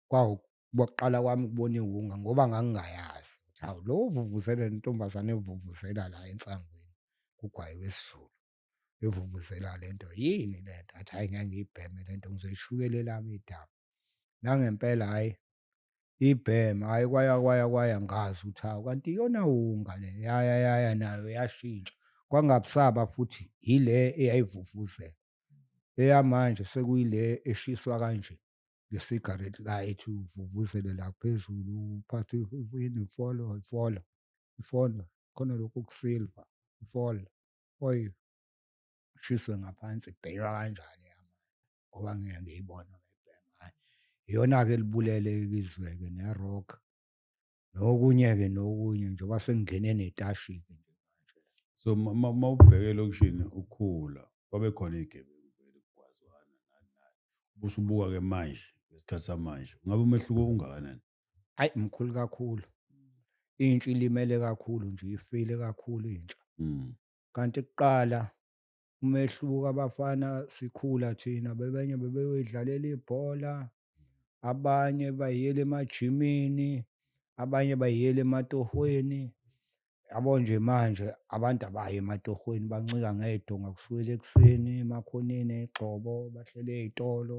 [SPEAKER 1] kwawu kwakuqala kwami ukubona iwunga ngoba ngangingayazi ukuthi hawu lo uvuvuzela lentombazane evuvuzela la ensangweni kugwaye wesizulu evuvuzela le nto yini le nto athi hhayi ngeke ngiyibheme le nto ngizoyishukela elami idaba nangempela hhayi ibhema hhayi kwaya kwaya kwaya ngazi ukuthi hawu kanti iyona wunga le yaya yaya nayo yashintsha kwangabusaba futhi yile eyayivuvuzela eyamanje sekuyile eshiswa kanje nge-cigarette light uvuvuzele la phezulu uphathe yini ifolo ifolo ifolo khona lokhu kusilva ifolo oy shiswe ngaphansi kubhekwa kanjani yami ngoba ngeke ngiyibona iyona-ke libulele izwe-ke ne-rock nokunye-ke nokunye njengoba sengingene netashi-ke nje manje so uma
[SPEAKER 2] ubheke elokishini ukhula kwabe khona iy'gebengu vele kugwazwana nani nani ubusubuka-ke manje ngesikhathi samanje ungabe umehluko ungakanani ayi mkhulu
[SPEAKER 1] kakhulu intsha ilimele kakhulu nje ifile kakhulu intsha mm. kanti kuqala umehluko abafana sikhula thina bebenye bebeyoyidlalela ibhola abanye bayiyela emajimini abanye bayiyela ematohweni yabo nje manje abantu abayi ematohweni bancika ngedonga kusukela ekuseni emakhoneni egxobo bahlele ezitolo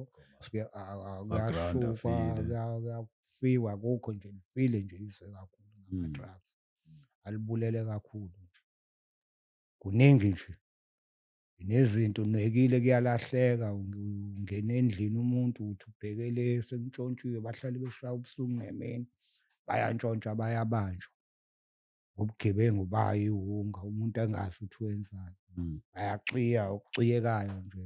[SPEAKER 2] kuyashukwa
[SPEAKER 1] kuyafiwa kukho nje lifile nje izwe kakhulu ngama-drugs mm. alibulele kakhulu kuningi nje nezinto unwekile kuyalahleka ungena endlini umuntu uthi ubheke le sengitshontshiwe bahlale beshaya ubusuku ngemini bayantshontsha bayabanjwa ubugebengu bayo iwunga umuntu angazi ukuthi wenzani hmm. bayacwiya okucwiyekayo nje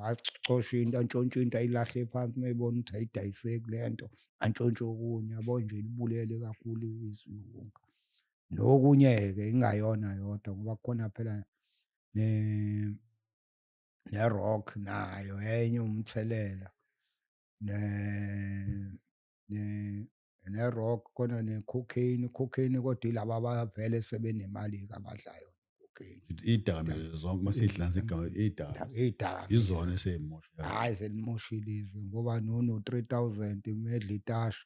[SPEAKER 1] acoshe into antshontshe into ayilahle phansi uma ebona ukuthi ayidayiseki le nto antshontshe okunye yabo nje libulele kakhulu izwi iwunga nokunye-ke ingayona yodwa ngoba kukhona phela ne ne-rock nayo enye umthelela ne ne ne-rock khona ne-cocaine cocaine kodwa ilaba abavele sebenemali-ke abadlayo idakamizwa
[SPEAKER 2] zonke uma sidlanza igama idaka idaka izona
[SPEAKER 1] eseyimosha
[SPEAKER 2] hayi selimoshile
[SPEAKER 1] izwe ngoba nono 3000 medla itasha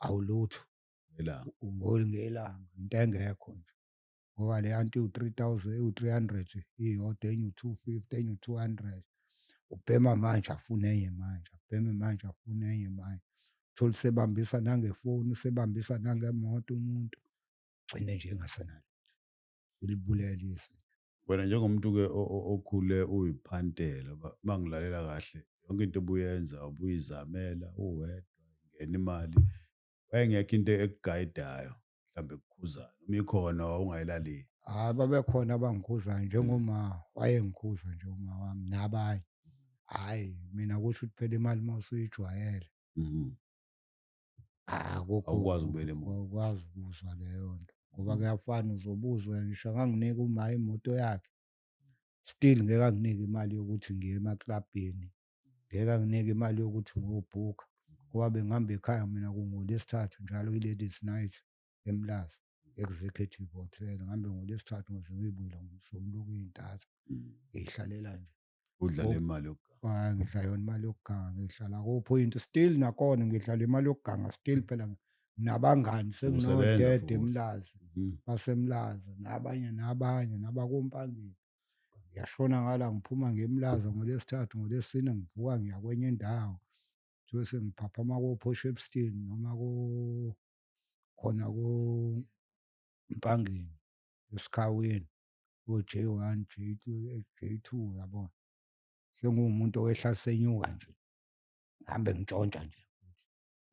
[SPEAKER 1] awulutho ngelanga
[SPEAKER 2] ungoli ngelanga
[SPEAKER 1] into engekho nje ngoba le yanto iwu-three thousand iwu-three hundred iyodwa enye u-two fifty enye u-two hundred ubhema manje afune enye manje abheme manje afune enye manje uthole usebambisa nangefoni usebambisa nangemoto umuntu gcine nje engasenalo ilibulele izwe wena njengomuntu-ke
[SPEAKER 2] okhule uyiphantela uma ngilalela kahle yonke into obuyenza ubuyizamela uwedwa ingena imali wayengekho into ekugayidayo mhlawumbe kukhuzayo uma ikhona wawungayilaleli hayi babekhona
[SPEAKER 1] abangikhuzayo njengoma wayengikhuza nje uma wami nabanye hhayi mina kusho ukuthi phela imali uma usuyijwayele mhm. akukwazi ukubela
[SPEAKER 2] ukwazi ukuzwa
[SPEAKER 1] leyo nto ngoba mhm. kuyafana uzobuzwa ngisho anganginika uma imoto yakhe still ngeke anginike imali yokuthi ngiye emaklabhini ngeke anginike imali yokuthi ngiyobhukha ngoba bengihamba ekhaya mina kungolesithathu njalo i-ladies night emlazi executive hotel ngihambe ngolesithathu ngize ngiyibuyile ngomsombuluko iy'ntathu mm. ngiyihlalela nje udlala imali
[SPEAKER 2] yokuganga ngidlala yona imali
[SPEAKER 1] yokuganga ngihlala kuphoyinti still nakhona ngidlala imali yokuganga still phela nabangani senginodede
[SPEAKER 2] emlazi mm-hmm.
[SPEAKER 1] basemlazi nabanye nabanye nabakompangeni ngiyashona ngala ngiphuma ngiyemlaza ngolesithathu ngolesine ngivuka ngiya kwenye indawo kuthiwe sengiphaphama ko-poshepston noma khona kompangeni esikhaweni ko-j one j two j two yabona sengiwumuntu owehla senyuka nje ngihambe ngintshontsha nje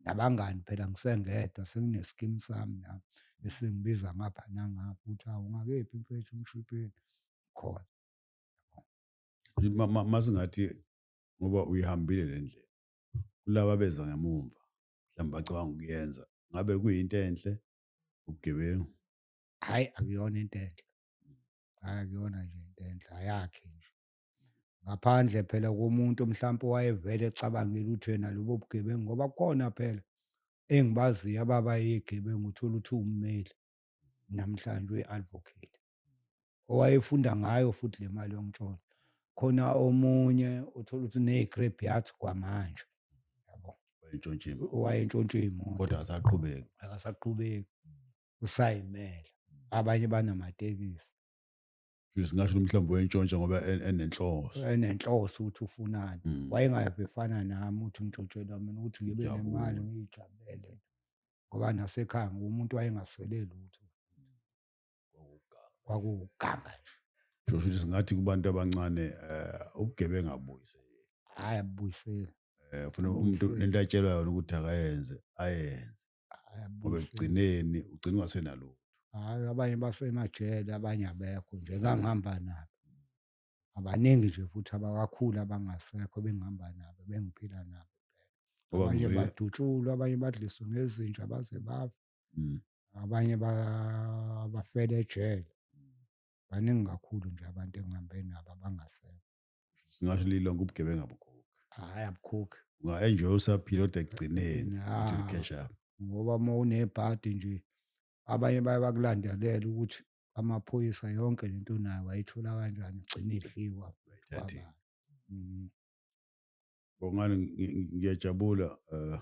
[SPEAKER 1] nabangani phela ngisengedwa sengineskim sami nami esengibiza ngapha nangapha ukuthi awu ngakephi mfethu umshipeni khona
[SPEAKER 2] masingathi ngoba uyihambile le ndlela kulaba beza ngemumva mhlawumbe bacabanga ukuyenza ngabe kuyinto enhle ubugebengu hhayi
[SPEAKER 1] akuyona into enhle hhayi akuyona nje into enhle ayakhe nje ngaphandle phela komuntu mhlawumpe wayevele ecabangile ukuthi yena lobo bugebengu ngoba kukhona phela engibaziyo ababa yegebengu uthola ukuthi ummeli namhlanje uyi-advocate owayefunda ngayo futhi le mali yomtsholo khona omunye uthola ukuthi une-grab yathi kwamanje entshontshiwe wayentshontshe imoto kodwa akasaqhubeki
[SPEAKER 2] akasaqhubeki
[SPEAKER 1] usayimela abanye banamatekisi
[SPEAKER 2] singasho mhlawumbe wentshontsha ngoba en- enenhloso enenhloso ukuthi
[SPEAKER 1] ufunani Mm. wayengayabe
[SPEAKER 2] efana nami
[SPEAKER 1] ukuthi umtshontshela mina ukuthi ngibe Ujabule. nemali ngiyijabulele ngoba nasekhaya ngumuntu wayengaswele lutho kwakuwuganga nje Kusho ukuthi singathi
[SPEAKER 2] kubantu abancane eh ubugebengu abuyise hhayi
[SPEAKER 1] abuyiseli eh ufuna umuntu
[SPEAKER 2] Ubuyisele. lento atshelwa yona ukuthi akayenze ayenze ngoba
[SPEAKER 1] ekugcineni ugcina
[SPEAKER 2] ungasenalutho hayi abanye
[SPEAKER 1] basemajele abanye abekho nje ngangihamba nabo abaningi nje futhi abakakhulu abangasekho bengihamba nabo bengiphila nabo abanye
[SPEAKER 2] badutshulwa
[SPEAKER 1] abanye
[SPEAKER 2] badliswe
[SPEAKER 1] ngezinja baze bafa mm.
[SPEAKER 2] abanye
[SPEAKER 1] bafele ejele baningi kakhulu nje abantu engihambe nabo abangasekho singasho
[SPEAKER 2] lilo lonke ubugebengu abukhokhi hayi abukhokhi
[SPEAKER 1] unga-enjoy usaphila
[SPEAKER 2] kodwa ekugcineni Ya. uthi cash up
[SPEAKER 1] ngoba
[SPEAKER 2] uma
[SPEAKER 1] unebhadi nje abanye baye bakulandelela ukuthi amaphoyisa yonke le nto nayo wayithola kanjani igcine idliwa Thathe. Wabala. Mhm.
[SPEAKER 2] bongani ngi- ngi- ngiyajabula eh,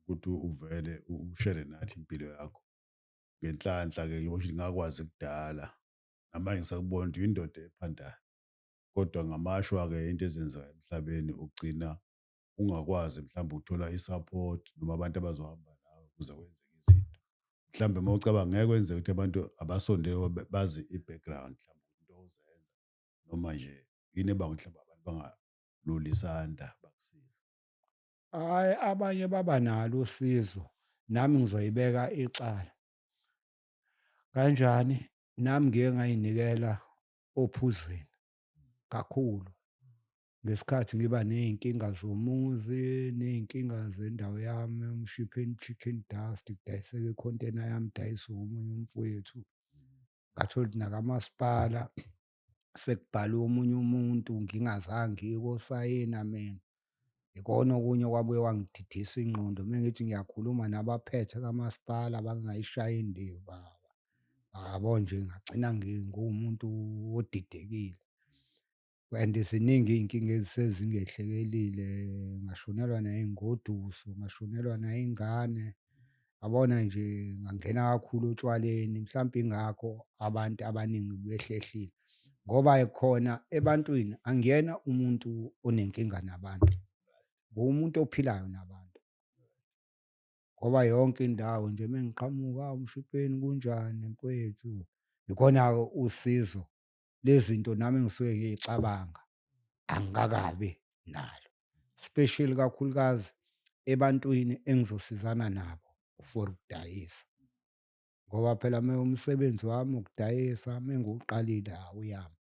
[SPEAKER 2] ukuthi uvele u- ushere nathi impilo yakho ngenhlanhla ke ngibo ukuthi ngakwazi kudala namanje ngisakubona ukuthi uyindoda ephandayo kodwa ngamashwa-ke into ezenzeka emhlabeni ugcina ungakwazi mhlawumbe ukuthola i-support noma abantu abazohamba nawe ukuze kwenzeke izinto mhlawumbe uma ucabanga ngeke kwenzeka ukuthi abantu abasondele bazi i-background mhlawumbe into ozenza noma nje yini ebanga ukuthi mhlawumbe abantu bangaluli isandla bakusize hhayi
[SPEAKER 1] abanye baba nalo usizo nami ngizoyibeka icala kanjani nami ngike ngayinikela ophuzweni kakhulu ngesikhathi ngiba ney'nkinga zomuzi ney'nkinga zendawo yami umshipheni chicken dust kudayiseka ikhontena yami dayisa omunye umfowethu ngathola ukuthi nakamasipala sekubhalwe omunye umuntu ngingazange ngikosayina mina ikona okunye okwabuye wangididisa ingqondo uma ngithi ngiyakhuluma nabaphethe kamasipala bangayishayi indiva yabo nje ngagcina ngingumuntu odidekile and ziningi iy'nkinga ezisezingehlekelile ngashonelwa nayingoduso ngashonelwa nayingane abona nje ngangena kakhulu otshwaleni mhlawumbe ingakho abantu abaningi behlehlile ngoba khona ebantwini angiyena umuntu onenkinga nabantu ngumuntu ophilayo nabantu ngoba yonke indawo nje mengiqhamuka umshipeni kunjani mfowethu ikhona usizo lezinto nami ngisuke ngiyicabanga angikakabi nalo special kakhulukazi ebantwini engizosizana nabo for ukudayisa ngoba phela mina umsebenzi wami ukudayisa mengiwuqalile awuyami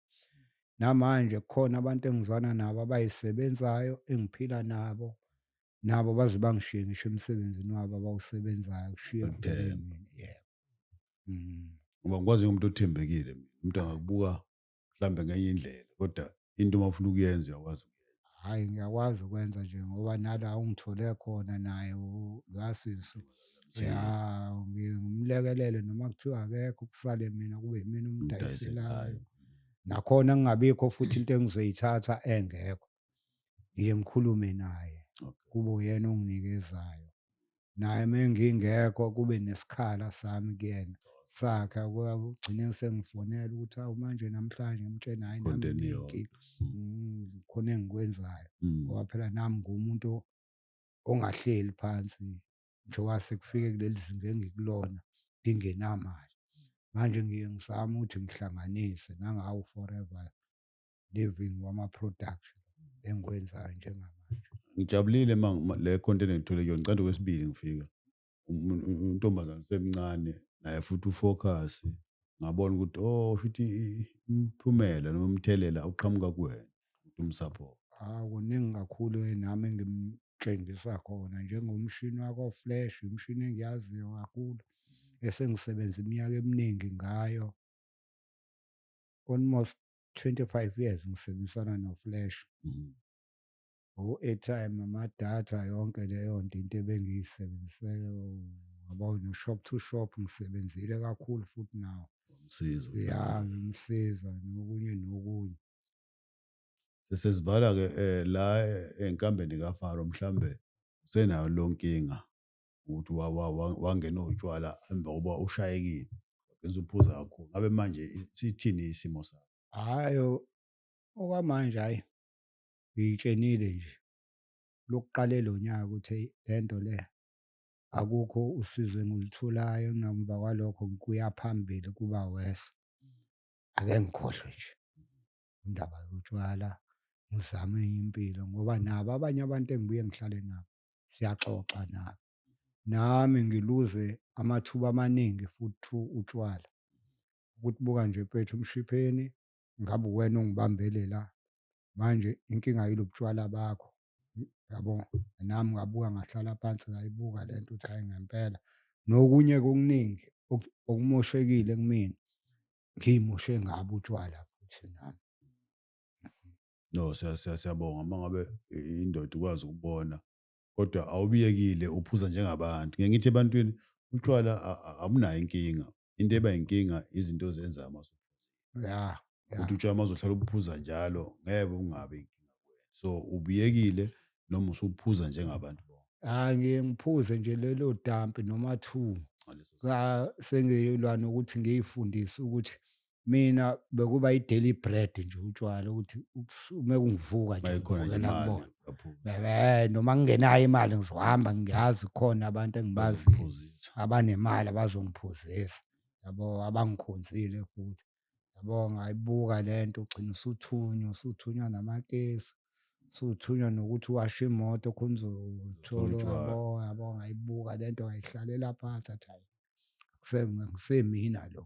[SPEAKER 1] namanje kukhona abantu engizwana nabo abayisebenzayo engiphila nabo nabo baze bangishiye ngisho emsebenzini wabo abawusebenzayo kushiye kudeleni
[SPEAKER 2] yebo
[SPEAKER 1] mm. ngoba ngikwazi
[SPEAKER 2] umuntu othembekile mina umuntu angakubuka mhlambe ngenye indlela kodwa into uma ufuna ukuyenza uyakwazi hhayi ngiyakwazi
[SPEAKER 1] ukwenza nje ngoba nala ungithole khona naye lwasisu ya ngimlekelele noma kuthiwa akekho kusale mina kube yimina umdayiselayo
[SPEAKER 2] nakhona
[SPEAKER 1] ngingabikho futhi into engizoyithatha engekho ngiye ngikhulume naye kube uyena onginikezwayo naye uma ngingekho kube nesikhala sami kuyena sakhe kugcine sengifonela ukuthi awu manje namhlanje ngimtshena hhayi nami nginenkinga mm, khona engikwenzayo mm. ngoba phela
[SPEAKER 2] nami ngumuntu
[SPEAKER 1] ongahleli phansi njengoba sekufike kuleli zinga engikulona ngingenamali manje ngiye ngizame ukuthi ngihlanganise nangawu forever living wama production engikwenzayo njengamanje ngijabulile ma
[SPEAKER 2] le content engithole kuyona ngicanda kwesibili ngifika untombazana usemncane naye futhi ufocus ngabona ukuthi oh futhi umphumela noma umthelela uqhamuka kuwena ukuthi umsupport ah kuningi
[SPEAKER 1] kakhulu nami engimtshengisa khona njengomshini wako flash imshini engiyaziyo kakhulu esengisebenza iminyaka eminingi ngayo almost 25 years ngisebenzisana noflash
[SPEAKER 2] mhm.
[SPEAKER 1] o-airtime amadata yonke leyo nto into ebengiyisebenzisele ngaba no-shop to shop ngisebenzile kakhulu futhi nawo msiza ya
[SPEAKER 2] ngimsiza
[SPEAKER 1] nokunye nokunye sesizibala-ke
[SPEAKER 2] um la enkambeni kafaro mhlawumbe usenayo lonkinga ukuthi wangena utshwala emva kokuba ushayekile wagcina uphuza kakhulu ngabe manje sithini isimo sakho
[SPEAKER 1] hayi okwamanje hayi ngiyitshenile nje lokuqale lo nyaka ukuthi le nto le akukho usizo engilitholayo namuva kwalokho ngikuya phambili kuba worse ake ngikhohlwe nje indaba yotshwala ngizame enye impilo ngoba nabo abanye abantu engibuye ngihlale nabo siyaxoxa nabo nami ngiluze amathuba amaningi futhi utshwala ukuthi buka nje mfethu umshipheni ngabe uwena ongibambelela manje inkinga yilo butshwala bakho yabo nami ngabuka ngahlala phansi ngayibuka le nto ukuthi hayi ngempela nokunye kukuningi okumoshekile kumina
[SPEAKER 2] ngiyimoshe ngabo utshwala futhi nami no siyabonga uma ngabe indoda ukwazi ukubona kodwa awubiyekile uphuza njengabantu ngeke ngithi ebantwini utshwala abunayo inkinga into eba inkinga izinto ozenza amasuphuzile ya
[SPEAKER 1] ukuthi utshwala mazohlala
[SPEAKER 2] ubuphuza njalo ngeke ungabe inkinga so ubuyekile noma usuphuza njengabantu bonke hayi ngiye ngiphuze
[SPEAKER 1] nje lelo dampi noma two
[SPEAKER 2] sengiyelwa
[SPEAKER 1] nokuthi ngiyifundise ukuthi mina bekuba i-daily bread nje utshwala ukuthi uma kungivuka nje ngivukela kubona
[SPEAKER 2] um noma ngingenayo
[SPEAKER 1] imali ngizohamba ngiyazi khona abantu engibaziyo abanemali abazongiphuzisa yabo abangikhonzile futhi yabo ngayibuka le nto ugcina usuthunywa usuthunywa namakesi suthunywa nokuthi washe imoto khona uzothola yabo
[SPEAKER 2] yabo ngayibuka
[SPEAKER 1] le nto ngayihlalela phansi athi hayi kusemina lo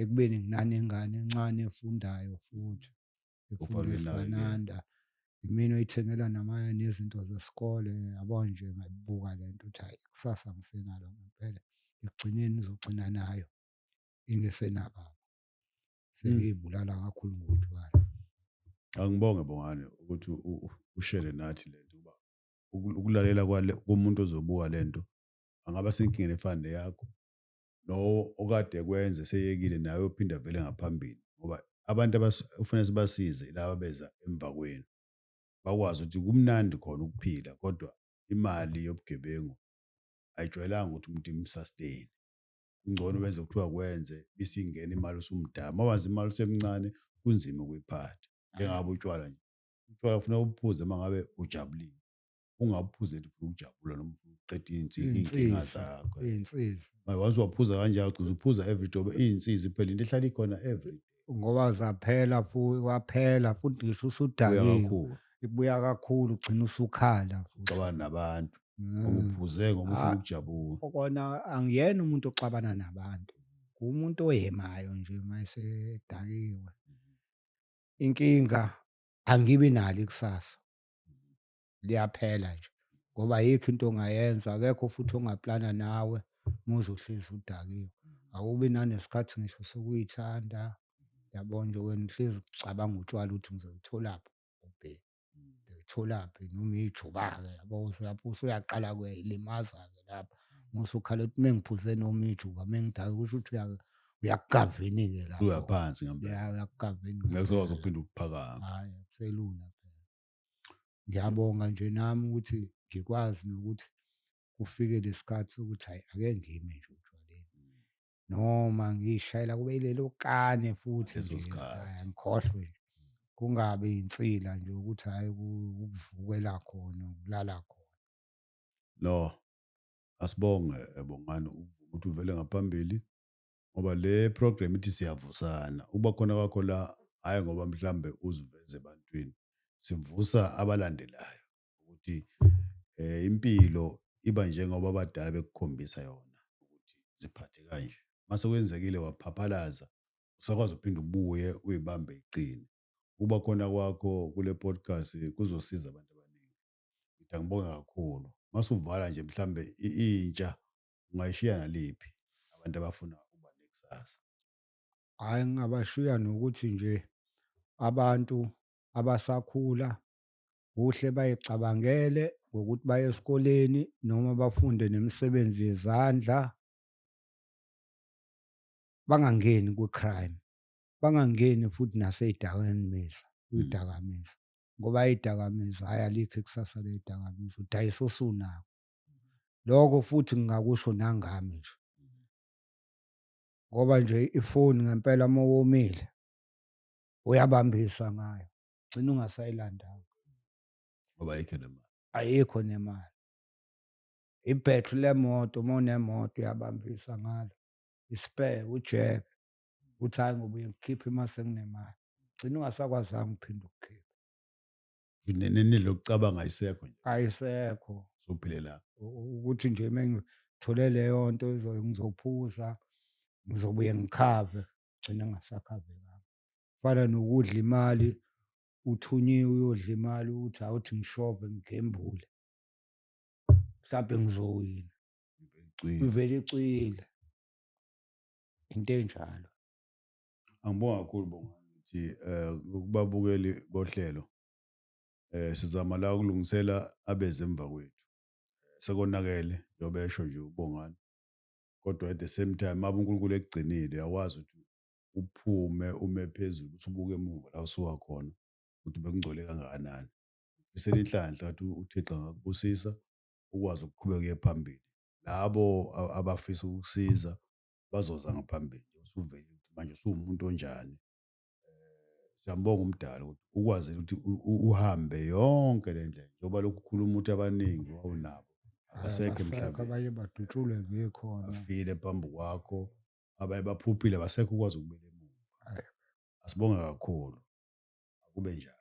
[SPEAKER 1] ekubeni nginanengane encane efundayo futhi efundafananda imina oyithengela namanye nezinto zesikole yabo nje ngayibuka le nto ukuthi hayi kusasa ngisenalo ngempela ekugcineni ngizogcina nayo ingesenaba sengiyibulala kakhulu ngotshwala
[SPEAKER 2] angibonge bongane ukuthi ushele nathi lento uba ukulalela kwale komuntu ozobuka lento angaba senkingeni efana neyakho no okade kwenze seyekile naye ophinda vele ngaphambili ngoba abantu abafuna sibasize laba beza emva kwenu bakwazi ukuthi kumnandi khona ukuphila kodwa imali yobugebengu ayijwayelanga ukuthi umuntu imsustain kungcono wenze kuthiwa kwenze isingena imali usumdala uma wazi imali usemncane kunzima ukuyiphatha njengabe utshwala nje utshwala ufuna ubuphuze uma ngabe ujabulile ungabuphuze nje ufuna ukujabula noma ufuna ukuqeda iy'nsi- iy'nkinga zakho iy'nsiza Manje
[SPEAKER 1] once waphuza
[SPEAKER 2] kanjalo ugcina uphuza every day ube iy'nsizi phela into ehlala ikhona every day ngoba zaphela
[SPEAKER 1] futhi waphela futhi ngisho uya usudakiwe kakhulu ibuya
[SPEAKER 2] kakhulu
[SPEAKER 1] ugcina usukhala futhi uxabana nabantu
[SPEAKER 2] ngoba mm. uphuze
[SPEAKER 1] ngoba
[SPEAKER 2] ufuna ah,
[SPEAKER 1] ukujabula
[SPEAKER 2] kona angiyena
[SPEAKER 1] umuntu oxabana nabantu umuntu oyemayo nje mayesedakiwe inkinga angibi nalo ikusasa liyaphela nje ngoba yikho into ongayenza akekho futhi ongaplana nawe muze uhlezi udakiwe awubi nanesikhathi ngisho sokuyithanda yabona nje wena uhlezi ucabanga utshwala ukuthi ngizolutholaphi ubheki ngitholaphi noma ijuba-ke yabo lapho usuyaqala kuyayilimaza-ke lapho musa ukhala ukuthi mengiphuze noma ijuba mengidake kusho ukuthi uyakugavini-ke lapho uyaphansi ngempela
[SPEAKER 2] uyakugavini
[SPEAKER 1] ngekuzokwazi ukuphinde
[SPEAKER 2] ukuphakama
[SPEAKER 1] hayi
[SPEAKER 2] akuselula
[SPEAKER 1] phela ngiyabonga nje nami ukuthi ngikwazi nokuthi kufike lesikhathi sokuthi hayi ake ngime nje utshwaleni noma ngiyishayela kube ilelo kane futhi Leso nje, sikhathi. hhayi,
[SPEAKER 2] ngikhohlwe nje
[SPEAKER 1] kungabi insila nje ukuthi hhayi ku- ukuvukela khona ukulala khona no
[SPEAKER 2] asibonge eh, bongani ukuvuma ukuthi uvele ngaphambili ngoba le program ithi siyavusana ukuba khona kwakho la hhayi ngoba mhlambe uziveze ebantwini sivusa abalandelayo ukuthi eh impilo iba njengoba abadala bekukhombisa yona ukuthi ziphathe kanje mase kwenzekile waphaphalaza usakwazi uphinde ubuye uyibambe iqine ukuba khona kwakho kule podcast kuzosiza abantu abaningi ngithi angibonge kakhulu mase uvala nje mhlambe intsha ungayishiya naliphi abantu abafuna ukuba nekusasa hayi
[SPEAKER 1] ngingabashiya nokuthi nje abantu abasakhula kuhle bayicabangele ngokuthi baye esikoleni noma bafunde nemisebenzi yezandla bangangeni kwi-crime bangangeni futhi nasey'dakamizwa kwidakamizwa hmm. ngoba idakamizwa hhayi alikho ikusasa leyidakamizwa udayisa osunako lokho futhi ngingakusho nangami nje ngoba nje ifoni ngempela uma womile uyabambisa ngayo gcina ungasayilandanga
[SPEAKER 2] ngoba ayikho nemali ayikho nemali
[SPEAKER 1] ibhetri lemoto uma unemoto uyabambisa ngalo ispare ujeke uthi hayi ngoba uyekhipha uma senginemali gcina ungasakwazanga uphinde ukukhipha nini
[SPEAKER 2] lokucabanga ayisekho nje ayisekho
[SPEAKER 1] sophilela
[SPEAKER 2] ukuthi nje
[SPEAKER 1] mengithole leyo nto ngizophuza ngizobuye ngikhave gcina ngasakhavekanga fana nokudla imali uthunyiwe uyodla imali uthi awuthi ngishove ngigembule mhlawumbe ngizowina ivele
[SPEAKER 2] icwile
[SPEAKER 1] into enjalo
[SPEAKER 2] angibonga kakhulu bonga ukuthi eh kubabukeli bohlelo eh sizama la ukulungisela abeze emva kwethu sekonakele yobesho nje ubongani kodwa at the same time uma uNkulunkulu ekugcinile yawazi ukuthi uphume ume phezulu uthi ubuke emuva la osuka khona ukuthi bekungcole kangakanani. Ngifisela inhlanhla ukuthi uThixo angakubusisa ukwazi ukuqhubeka uye phambili. Labo abafisa ukukusiza bazoza ngaphambili usuvele ukuthi manje usuwumuntu onjani. Eh, siyambonga umdala ukuthi ukwazile ukuthi uhambe yonke le ndlela njengoba lokhu ukhuluma ukuthi abaningi wawunabo abasekho emhlabeni abanye badutshulwe
[SPEAKER 1] ngekhona afile phambi
[SPEAKER 2] kwakho abaye baphuphile basekho ukwazi ukubeka emuva
[SPEAKER 1] asibonge
[SPEAKER 2] kakhulu akube njalo